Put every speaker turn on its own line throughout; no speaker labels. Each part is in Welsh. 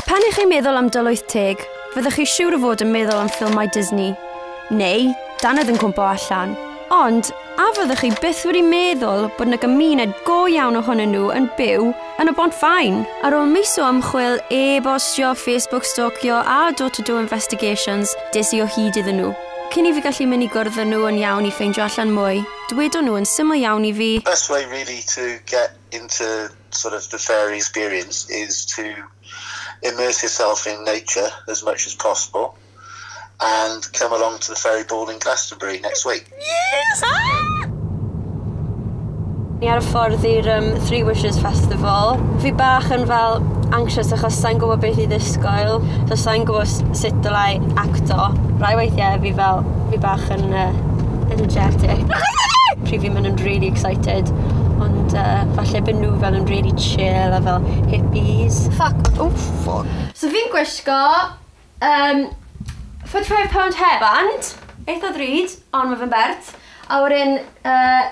Pan
i chi'n meddwl am Dol Wyth Teg, fyddwch chi siwr o fod yn meddwl am ffilmau Disney, neu dannedd yn cwmpo allan. Ond, a fyddwch chi byth wedi meddwl bod yna gymuned go iawn ohonyn nhw yn byw yn y Bont Faen? Ar ôl mis o ymchwil, e-bostio, Facebook stalkio a door-to-door investigations, des i o hyd iddyn nhw. Cyn i fi gallu mynd i gwrdd â nhw yn iawn i ffeindio allan mwy, Dwedon nhw yn syml iawn i fi. Best way really to
get into sort of the fairy experience is to immerse yourself in nature as much as possible and come along to the fairy ball in Glastonbury next week. Yes! Ah!
Ni ar y ffordd i'r um, Three Wishes Festival. Fi bach yn fel anxious achos sa'n gwybod beth i ddisgwyl. So sa'n gwybod sut dylai acto. Rai weithiau fi fel, fi bach yn uh, energetic. Pryd fi'n mynd yn really excited. Ond uh, falle byd nhw fel yn really chill a fel hippies. Fuck. Oh, fuck. So fi'n gwisgo um, 45 pound hairband, eitha ddrud, ond mae fe'n bert. A wedyn uh,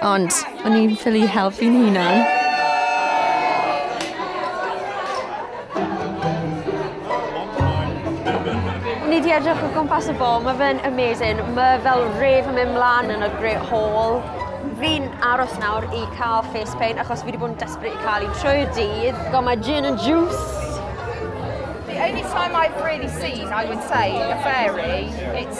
Ond o'n i'n ffili helpu'n hunan. Ni di edrych o gwmpas y bol, mae fe'n amazing. Mae fel ref yn mynd mlaen yn y Great Hall. Fi'n aros nawr i cael face paint achos fi wedi bod yn desperate i cael un trwy'r dydd. Got my gin and juice. The only
time I've really seen, I would say, a fairy, it's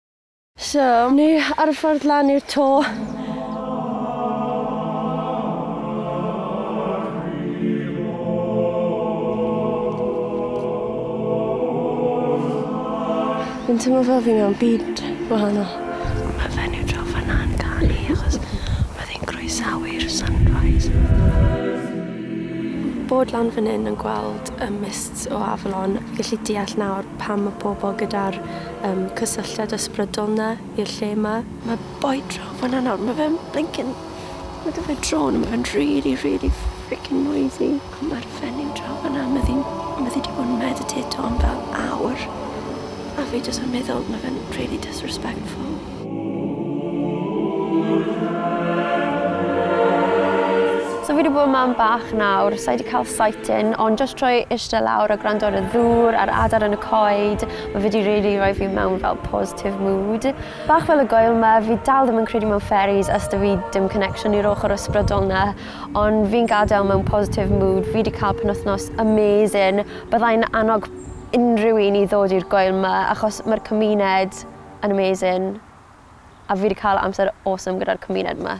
So, ni ar y ffordd lan i'r to. Fi'n teimlo fel fi mewn byd wahanol. Mae fenyw draw fanna yn canu achos mae fe'n croesawu'r sunrise. Bod lan fan hyn yn gweld y mists o afalon, fi gallu deall nawr pam mae pobl gyda'r Yym, cysylltiad ysbrydol 'na i'r lle 'ma. Mae boi draw fanna nawr, mae fe'n blincin... Mae 'da fe drone a mae fe'n rili rili frickin noisy. A mae'r fenyw draw fanna, mae ddi'n... Mae ddi 'di bod yn meditato am fel awr. A fi jyst yn meddwl, mae fe'n rili disrespectful. So fi wedi bod yn mam bach nawr, sa i wedi cael sight-in, ond jyst trwy eistedd lawr a gwrando ar y ddŵr a'r adar yn y coed, mae fe 'di rili rhoi fi mewn fel positive mood. Bach fel y gwael 'ma, fi dal ddim yn credu mewn fairies a 'sta fi dim connection i'r ochr ysbrydol 'na, ond fi'n gadael mewn positive mood, fi 'di cael penwythnos amazing, byddai'n annog unrhyw un i ddod i'r gwael 'ma achos mae'r cymuned yn amazing a fi 'di ca'l amser awesome gyda'r cymuned 'ma.